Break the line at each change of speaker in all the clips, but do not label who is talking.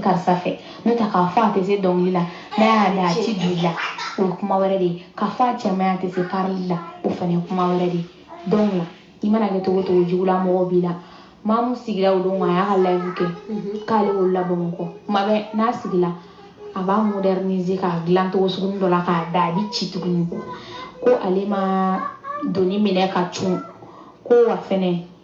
karisa fɛ n'o tɛ k'a fɔ a tɛ se dɔnkili la n'a y'a da a ti don i la o ye kuma wɛrɛ de ye k'a fɔ a cɛ man ɲi a tɛ se karili la o fana ye kuma wɛrɛ de ye donc la i mana kɛ cogo cogo jugula mɔgɔw b'i la mamu sigira o don a y'a ka live kɛ mhm. k'ale wolola bamakɔ kuma bɛɛ n'a sigila a b'a moderniser k'a dilan cogo sugunin dɔ la k'a da a bi ci tuguni ko ale ma doni minɛ ka cun ko wa fɛnɛ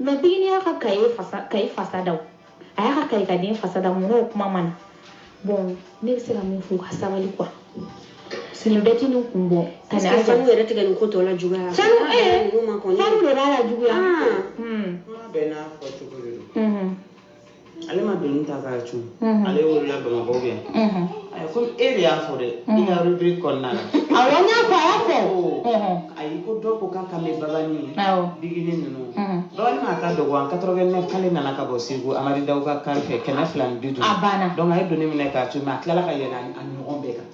mais bigini y'a ka kaye fasa kaye fasa da a y'a ka kaye ka den fasa da mun n'o kuma ma na bon ne bɛ se ka min fɔ u ka sabali quoi nin bɛɛ ti nin kun bɔ ka na a sanu yɛrɛ de bɛ nin ko tɔ lajuguya sanu ee sanu de b'a lajuguya ah. hmm.
bɛɛ n'a fɔ cogo de don ale ma doni ta k'a cun ale wolola bamakɔ bɛ yan ayi komi e de y'a fɔ dɛ i ka rubrique kɔnɔna la awɔ n y'a fɔ a y'a
fɔ ayi ko dɔ ko
k'a kan bɛ babani bigini ninnu babani ma ka dɔgɔ en 89 k'ale nana ka bɔ segu amadi daw ka kari fɛ kɛmɛ fila ni bi duuru a banna donc a ye
doni minɛ k'a
cun mais a tilala ka yɛlɛ a ɲɔgɔn bɛɛ kan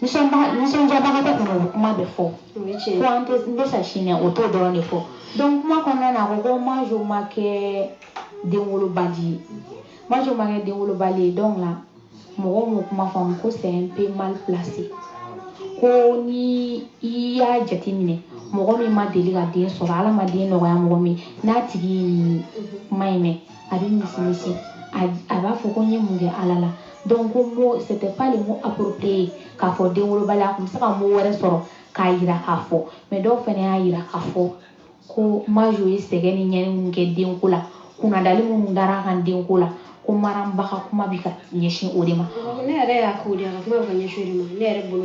nisɔndiyabagatɔ kɔni o bɛ kuma bɛɛ fɔ fo an tɛ n bɛ sa sini o t'o dɔrɔn de fɔ donc kuma kɔnɔna na a ko ko majo ma kɛ denwolobali ye majo ma kɛ denwolobali ye donc la mɔgɔw m'o kuma faamu ko c'est un peu mal placé ko ni i y'a jateminɛ mɔgɔ min ma deli ka den sɔrɔ ala ma den nɔgɔya mɔgɔ min n'a tigi ye nin kuma in mɛn a bɛ misimisi a b'a fɔ ko n ye mun kɛ ala la donc ko mot c'était pas le mot approprié k'a fɔ denwolobali a tun bɛ se ka mot wɛrɛ sɔrɔ k'a yira k'a fɔ mais dɔw fana y'a yira k'a fɔ ko majo ye sɛgɛn ni ɲɛni minnu kɛ denko la kunnadali minnu dara a kan denko la ko mariam ba ka kuma bɛ ka ɲɛsin o de ma ne yɛrɛ y'a k'o de
a ka kuma bɛ ka ɲɛsin o de ma ne yɛrɛ bolo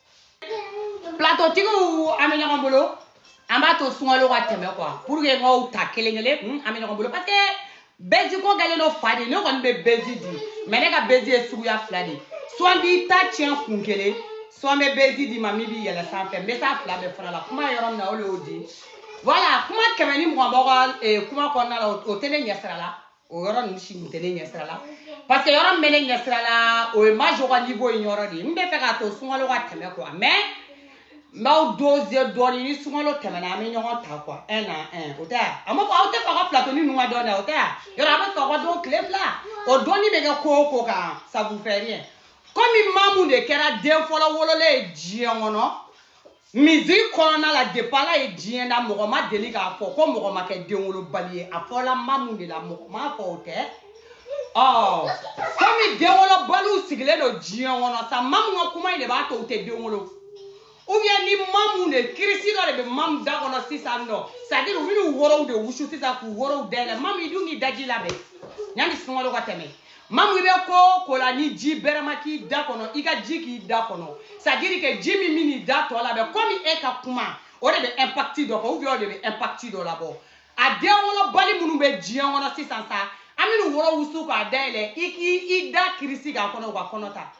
platotigiw an bɛ ɲɔgɔn bolo an b'a to sunkalo ka tɛmɛ quoi pour que n k'aw ta kelen kelen hmm, an bɛ ɲɔgɔn bolo parce que bɛzi ko kɛlen don fa de ne kɔni bɛ bɛzi di mais ne ka bɛzi ye suguya fila de soit n b'i ta tiɲɛ kun kelen soit n bɛ bɛzi d'i ma min b'i yɛlɛ sanfɛ n bɛ s'a fila bɛɛ fana la kuma yɔrɔ min na o de y'o di voilà kuma kɛmɛ ni mugan b'aw ka eh, kuma kɔnɔna la o tɛ ne ɲɛsira la o yɔrɔ ninnu si tun tɛ ne ɲɛsira la parce que yɔrɔ min bɛ ne ɲɛsira la o ye majo ka niveau in yɔrɔ de ye n bɛ fɛ k'a to sunkalo ka tɛmɛ quoi mais n b'aw doser dɔɔnin ni sunkalo tɛmɛna an bɛ ɲɔgɔn ta quoi un à un o tɛ yan a ma fɔ aw tɛ fɛ aw ka platoni ninnu ka dɔn dɛ o tɛ yan yɔrɔ a bɛ fɛ aw ka dɔn tile fila o dɔnni bɛ kɛ ko o ko kan ça vous fait rien komi mamu de kɛra den fɔlɔ wololen ye diɲɛ kɔnɔ Misiki kɔnɔna la depuis Ala ye diɲɛ da mɔgɔ ma deli k'a fɔ ko mɔgɔ ma kɛ denwolobali ye a fɔla mamu de la mɔgɔ m'a fɔ o tɛ ɔ komi denwolobaliw sigilen don diɲɛ kɔnɔ sa mamu ka kuma in de b'a to u tɛ den wolo ou bien ni mamu de kirisi dɔ de bɛ mamu da kɔnɔ sisan nɔ c'est à dire u bɛn'u worow de wusu sisan k'u worow dayɛlɛ mamu i dun k'i daji labɛn yanni sunkalo ka tɛmɛ mamu i bɛ ko ko la ni ji bɛrɛma k'i da kɔnɔ i ka ji k'i da kɔnɔ c'est à dire que ji min bɛn'i da tɔ labɛn komi e ka kuma o de bɛ impakiti dɔ kɛ ubiyɛn o de bɛ impakiti dɔ labɔ a den wolobali minnu bɛ diɲɛ kɔnɔ sisan sa an bɛna woro wusu k'a dayɛlɛ i k'i da kirisi k'a kɔnɔ u ka kɔnɔ ta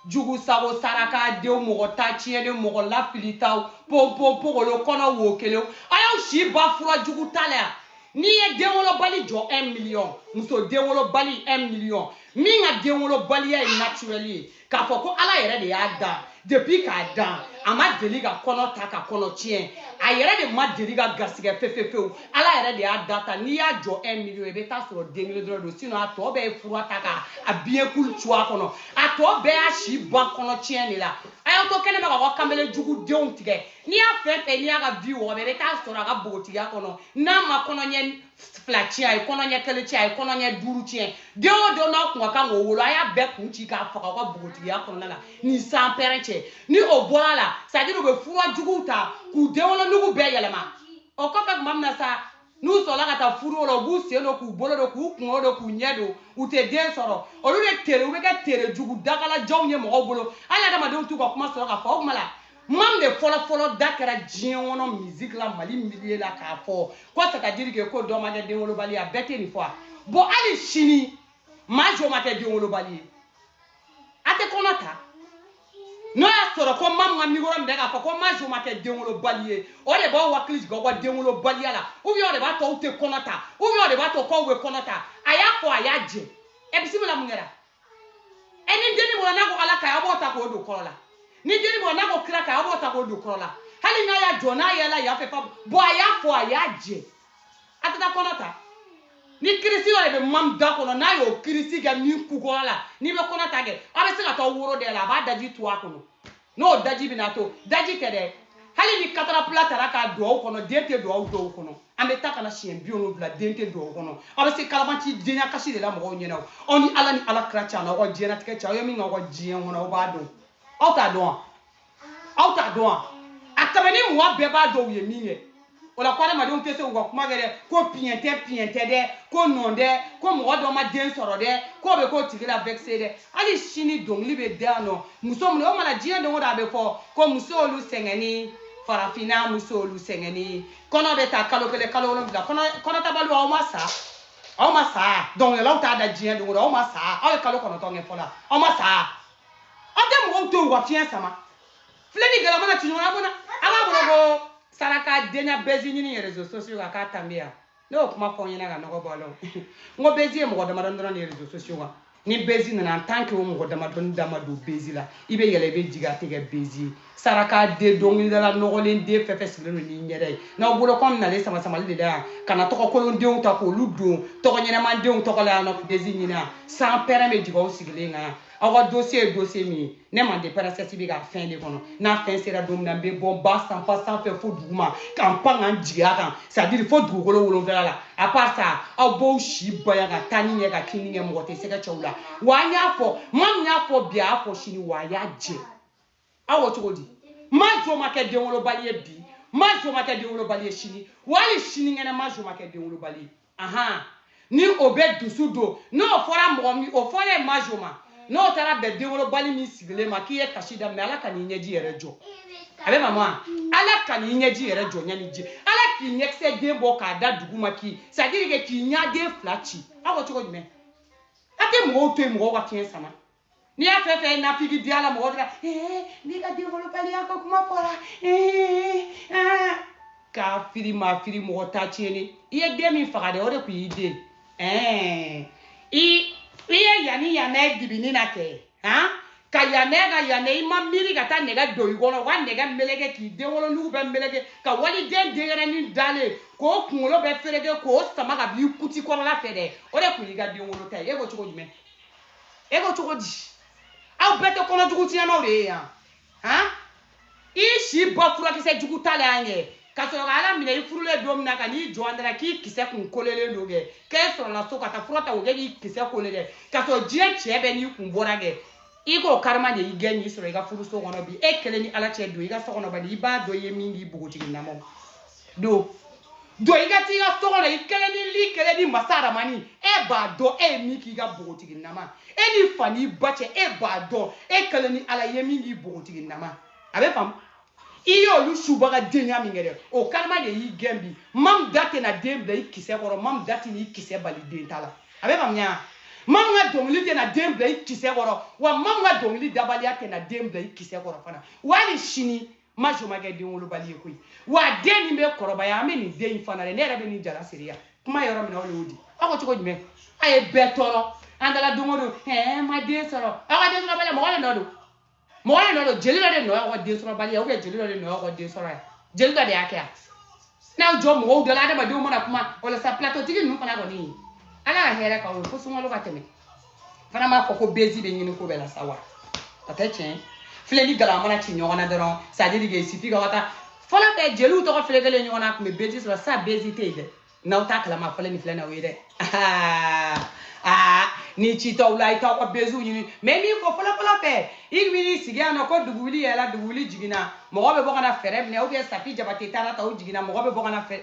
jugu sago saraka denw mɔgɔ ta tiɲɛ den mɔgɔ lafilitaw ponponpogolo kɔnɔ wo kelenw a y'aw si ban fura jugu ta la yan n'i ye denwolobali jɔ 1 miliyɔn muso denwolobali 1 miliyɔn min ka denwolobaliya ye naturɛli ye k'a fɔ ko ala yɛrɛ de y'a dan depuis k'a dan a ma deli ka kɔnɔ ta ka kɔnɔ tiɲɛ a yɛrɛ de ma deli ka gasigɛ fefefewu ala yɛrɛ de y'a dan tan n'i y'a jɔ un million i bɛ taa sɔrɔ den kelen dɔrɔn don sinon a tɔ bɛɛ ye fura ta ka a biɲɛ kulu cu a kɔnɔ a tɔ bɛɛ y'a si ban kɔnɔ tiɲɛ de la a y'aw to kɛnɛ ma ka aw kamalen jugu denw tigɛ n'i y'a fɛn fɛn n'i y'a ka vie wɔgɔbɛ i bɛ taa sɔrɔ a ka bogotigiya kɔnɔ n'a ma kɔnɔɲɛ fila tiɲɛ a ye kɔnɔɲɛ kelen tiɲɛ a ye kɔnɔɲɛ duuru tiɲɛ den o den n'a tun ka kan k'o wolo a y'a bɛɛ kun ci k'a faga aw ka bogotigiya kɔnɔna la ni san pɛrɛn cɛ ni o bɔr'a la c'est à dire u bɛ fura juguw ta k'u denwolonugu bɛɛ yɛlɛma o kɔfɛ tuma min na sa n'u sɔrɔla ka taa furu la u b'u sen don k'u bolo don k'u kungo don k'u ɲɛ don u tɛ den sɔrɔ olu de tere u bɛ kɛ tere jugu dagalajanw ye mɔgɔw bolo hali adamadenw t'u ka kuma sɔrɔ k'a fɔ o kuma la mam de fɔlɔfɔlɔ da kɛra diɲɛ kɔnɔ musique la mali milieu la k'a fɔ ko c'est à dire que ko dɔ ma kɛ denwolobali ye a bɛɛ tɛ nin fɔ a bon hali sini maa jo ma kɛ denwolobali ye a tɛ kɔnɔ ta n'o y'a sɔrɔ ko mamu ka mikoro minɛ k'a fɔ ko maa jo ma kɛ denwolobali ye o de b'aw hakili jigin aw ka denwolobaliya la ubiyɛn o de b'a to aw tɛ kɔnɔ ta ubiyɛn o de b'a to k'aw bɛ kɔnɔ ta a y'a fɔ a y'a jɛ ɛ bisimila mun kɛra ɛ ni denni bɔra n'a ko ala ka ɲi aw b'o ta k'o don kɔrɔ la ni denni bɔra n'a ko kira ka ɲi aw b'o ta k'o don kɔrɔ la hali n'a y'a jɔ n'a yɛlɛla yan fɛ fa bɔn a y'a fɔ a y'a jɛ a tɛ taa kɔnɔ ta ni kirisi yɛrɛ bɛ mam da kɔnɔ n'a y'o kirisi kɛ min kukɔrɔ la n'i bɛ kɔnɔ ta kɛ aw bɛ se ka taa woro da la a b'a daji to a kɔnɔ n'o daji bɛna to daji tɛ dɛ hali ni katarapila tara k'a don aw kɔnɔ den tɛ don aw dɔw kɔnɔ an bɛ taa ka na siɲɛ bi wolonwula den tɛ don aw kɔnɔ aw bɛ se kalabanci denya kasi de la mɔgɔw ɲɛna aw ni ala ni ala kira cɛ aw ka diɲɛnatigɛ cɛ aw ye min kɛ aw ka diɲɛ kɔnɔ aw b'a dɔn aw t'a dɔn wa aw t'a dɔn wa a tɛmɛ ni mɔgɔ bɛɛ b'a dɔn u ye min kɛ o la ko adamadenw tɛ se k'u ka kuma kɛ dɛ ko piɲɛ tɛ piɲɛ tɛ dɛ ko nɔn dɛ ko mɔgɔ dɔ ma den sɔrɔ dɛ k'o bɛ k'o tigi lavɛkise dɛ hali sini dɔnkili bɛ da yan nɔ muso minnu o mana diɲɛ don o don a bɛ fɔ ko muso olu sɛgɛnni farafinna muso olu sɛgɛnni kɔnɔ bɛ ta kalo kelen kalo wolonwula kɔnɔtabaliw aw ma sa aw ma sa dɔnkilidalaw t'a da diɲɛ don o don aw ma sa aw ye kalo kɔnɔntɔn kɛ fɔlɔ aw ma sa aw tɛ mɔgɔw to yen u ka fiɲɛ sama filɛli gɛlɛya mana ci ɲɔgɔn na bɔnna an b'a bolo ko saraka denya bɛzi ɲini rezo sosiyo kan k'a tanbe yan ne y'o kuma fɔ n ɲɛna ka nɔgɔ bɔ a la n ko bɛzi ye mɔgɔ damadɔni dɔrɔn de ye rezo sosiyo kan ni bɛzi nana an tan kɛ o mɔgɔ damadɔni dama don bɛzi la i bɛ yɛlɛn i bɛ jigin a tɛ kɛ bɛzi ye saraka den dɔnkilidala nɔgɔlen den fɛn fɛn sigilen don n'i ɲɛda ye n'aw bolo kɔmi nalen sama samali de da yan ka na tɔgɔ kolondenw ta k'olu don tɔgɔ ɲɛnɛman denw tɔgɔ la yan nɔ bɛzi ɲini yan sanpɛrɛn bɛ jigin aw sigilen kan yan aw ka dosiye ye dosiye min ye ne manden pɛrɛnsɛsi bɛ ka fɛn de kɔnɔ n'a fɛn sera don min na n bɛ bɔ ba sanfa sanfɛ fo duguma ka n pan ka n jigin a kan sadiri fo dugukolo wolonfila la à part ça aw b'aw si baya ka taa ni ɲɛ ka kini ɲɛ mɔgɔ tɛ sɛgɛ cɛw la wa an y'a fɔ maa min y'a fɔ bi a y'a fɔ sini wa a y'a jɛ aw ko cogo di ma jo ma kɛ denwolobali ye bi ma jo ma kɛ denwolobali ye sini wa hali sinikɛnɛ ma jo ma kɛ denwolobali ye ahan ni o bɛ dusu don n'o fɔra mɔgɔ min o fɔlen ma jo ma n'o taara bɛn denwolobali min sigilen ma k'i ye kasi daminɛ ala kan'i ɲɛji yɛrɛ jɔ a bɛ mamu a ala kan'i ɲɛji yɛrɛ jɔ ɲani ji ala k'i ɲɛkisɛ den bɔ k'a da duguma k'i sadiri kɛ k'i ɲɛden fila ci aw ko cogo jumɛn a tɛ mɔgɔw to yen mɔgɔw ka fiɲɛ sama n'i y'a fɛn fɛn nafigi di ala mɔgɔ dira ee n'i ka denwolobaliya ka kuma fɔra ee aa k'a firi ma firi mɔgɔ ta tiɲɛni i ye den min faga dɛ o de tun y'i den ɛɛ i i ye yanni yanni ye dibini na kɛ han ka yanɛ ka yanɛ i ma miiri ka taa nɛgɛ don i kɔnɔ u ka nɛgɛ meleke k'i denwolonugu bɛ meleke ka waliden denyɛrɛnin dalen k'o kunkolo bɛ fereke k'o sama ka b'i kuti kɔnɔla fɛ dɛ o de tun y'i ka denwolo ta ye e ko cogo jumɛn e ko cogo di aw bɛɛ tɛ kɔnɔ jugu tiɲɛnaw de ye yan han i si bɔ furakisɛ jugu ta la yan kɛ ka sɔrɔ ka ala minɛ i furulen don min na ka n'i jɔ an da la k'i kisɛ kun kolelen don kɛ k'e sɔrɔla so ka taa fura ta o kɛ k'i kisɛ kole kɛ ka sɔrɔ diɲɛ cɛ bɛɛ n'i kun bɔra kɛ i k'o karima de y'i gɛn y'i sɔrɔ i ka furuso kɔnɔ bi e kelen ni ala cɛ don i ka so kɔnɔ bani i b'a dɔn i ye min k'i bogotigi nama don jɔ i ka t'i ka so kɔnɔ i kelen ni li kelen ni masa aramani e b'a dɔn e ye min k'i ka bogotigi nama e n'i fa n'i ba cɛ e b'a dɔn e kelen ni ala ye min k'i bogotigi nama a bɛ faamu i y'olu subaga denya min kɛ dɛ o karima de y'i gɛn bi mamu da tɛna den bila i kisɛ kɔrɔ mamu da tɛna i kisɛ bali den ta la a bɛ faamuya mamu ka dɔnkili tɛna den bila i kisɛ kɔrɔ wa mamu ka dɔnkili dabaliya tɛna den bila i kisɛ kɔrɔ fana hali sini ma jo ma kɛ denwolobali ye koyi wa den nin bɛ kɔrɔbaya an bɛ nin den in fana de ne yɛrɛ bɛ nin jala seereya kuma yɔrɔ min na o de y'o di aw ko cogo jumɛn a ye bɛɛ tɔɔrɔ an taara don o don ɛɛ ma den sɔrɔ aw ka densɔrɔbaliya mɔgɔ de nɔ don mɔgɔ de nɔ don jeli dɔ de nɔ y'aw ka densɔrɔbaliya ubiyɛn jeli dɔ de nɔ y'aw ka den sɔrɔ yan jeli dɔ de y'a kɛ yan n'aw jɔ mɔgɔw da la adamadenw mana kuma walasa pilatotigi ninnu fana kɔni ala ka hɛrɛ k'aw ye fo sunkalo ka tɛmɛ fana b'a fɔ ko bezi bɛ ɲini ko bɛɛ la sa wa a tɛ tiɲɛ filɛ ni gala mana ci ɲɔgɔn na dɔrɔn c'est à dire que sifi ka taa fɔlɔ bɛɛ jeliw tɔgɔ filɛ kelen ɲɔgɔn na a tun bɛ bezi sɔrɔ sa bezi tɛ yen dɛ n'aw t'a kalama fɔlɔ nin filɛ na o ye dɛ aa ni ci t'aw la i t'aw ka beziw ɲini mais min fɔ fɔlɔfɔlɔ fɛ i tun bɛ n'i sigi yan nɔ ko dugu wuli yɛlɛla dugu wuli jiginna mɔgɔ bɛ bɔ ka na fɛɛrɛ minɛ ou bien safi jabate taara ta o jiginna mɔgɔ bɛ bɔ ka na fɛɛrɛ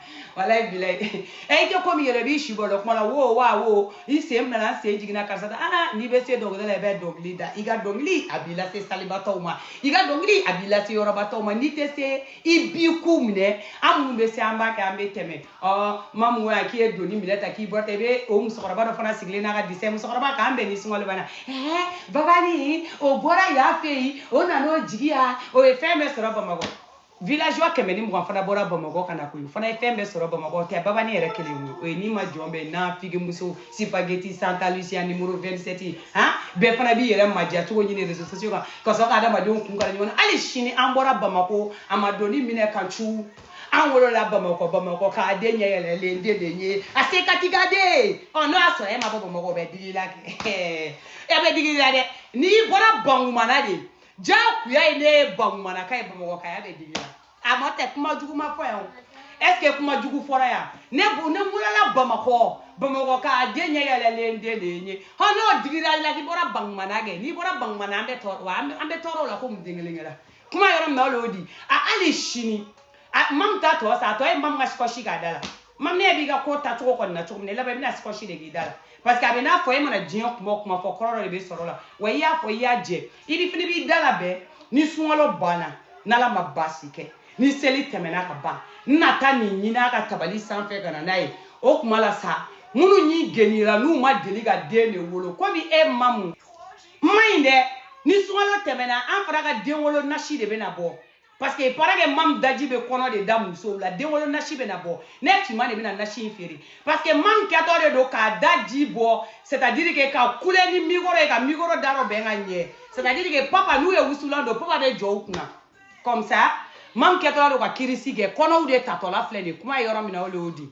walayi bilayi ɛ i tɛ komi yɛrɛ b'i si bɔ dɔ kuma la wo wa wo i sen minɛna n sen jiginna karisa ta aa n'i bɛ se dɔnkili la i bɛ dɔnkili da i ka dɔnkili a b'i lase salibatɔw ma i ka dɔnkili a b'i lase yɔrɔbatɔw ma n'i tɛ se i b'i ku minɛ an minnu bɛ se an b'a kɛ an bɛ tɛmɛ ɔ mamu ya k'i ye doni minɛ ta k'i bɔ ta i bɛ o musokɔrɔba dɔ fana sigilen n'a ka disɛ musokɔrɔba k'an bɛn ni sunkalo banna ɛɛ babani o bɔra yan fɛ yen o nan'o jigin yan o ye fɛn bɛɛ sɔrɔ bamakɔ villageois kɛmɛ ni mugan fana bɔra bamakɔ ka na koyi fana ye fɛn bɛɛ sɔrɔ bamakɔ tɛ babani yɛrɛ kelen ye o ye ni ma jɔn bɛ na figimuso spaghetti santa lucia numéro 27 han bɛɛ fana b'i yɛrɛ maja cogo ɲini réseaux sociaux kan ka sɔrɔ ka adamadenw kun kala ɲɔgɔn na hali sini an bɔra bamakɔ an ma doni minɛ ka cu an wolola bamakɔ bamakɔ ka den ɲɛ yɛlɛlen den de ye a se ka ti ka den ɔ n'o y'a sɔrɔ e ma bɔ bamakɔ bɛ digi la kɛ ɛ bɛ digi la dɛ n'i bɔra bankumana de jagoya ye ne ye bankumanaka ye bamakɔkaya bɛ digi la a ma tɛ kuma jugu ma fɔ yan o est ce que kuma jugu fɔra yan ne bo ne wolola bamakɔ bamakɔ ka den ɲɛ yɛlɛlen den de ye n ye hɔ n'o digira i la k'i bɔra bankumana kɛ n'i bɔra bankumana an bɛ tɔɔrɔ wa an bɛ tɔɔrɔ o la komi den kelen kɛra kuma yɔrɔ min na o y'o di a hali sini mamu ta tɔ sa a tɔ ye mamu ka sikɔsi k'a da la mamu ne b'i ka ko taa cogo kɔni na cogo min na i laban i bɛna sikɔsi de k'i da la parce que a bɛ n'a fɔ e mana diɲɛ kuma o kuma fɔ kɔrɔ dɔ de bɛ sɔrɔ a la wa i y'a fɔ i y'a jɛ i ne fana b'i da labɛn ni sunkalo banna n'ala ma baasi kɛ ni seli tɛmɛna ka ban n na taa nin ɲini a ka tabali sanfɛ ka na n'a ye o kuma la sa minnu y'i genira n'u ma deli ka den de wolo komi e mamu man ɲi dɛ ni sunkalo tɛmɛna an fana ka den wolo nasi de bɛna bɔ parce que il paraît que mamu daji bɛ kɔnɔ de da musow la denwolo nasi bɛna bɔ ne cima de bɛna nasi in feere parce que mamu kɛtɔ de don k'a daji bɔ c'est à dire que ka kule ni mikoro ye ka mikoro da rɔbɛn ka ɲɛ c'est à dire que papa n'u ye wusulan don papa bɛ jɔ u kunna comme ça mamu kɛtɔla don ka kirisi kɛ kɔnɔw de tatɔla filɛ nin kuma ye yɔrɔ min na o le y'o di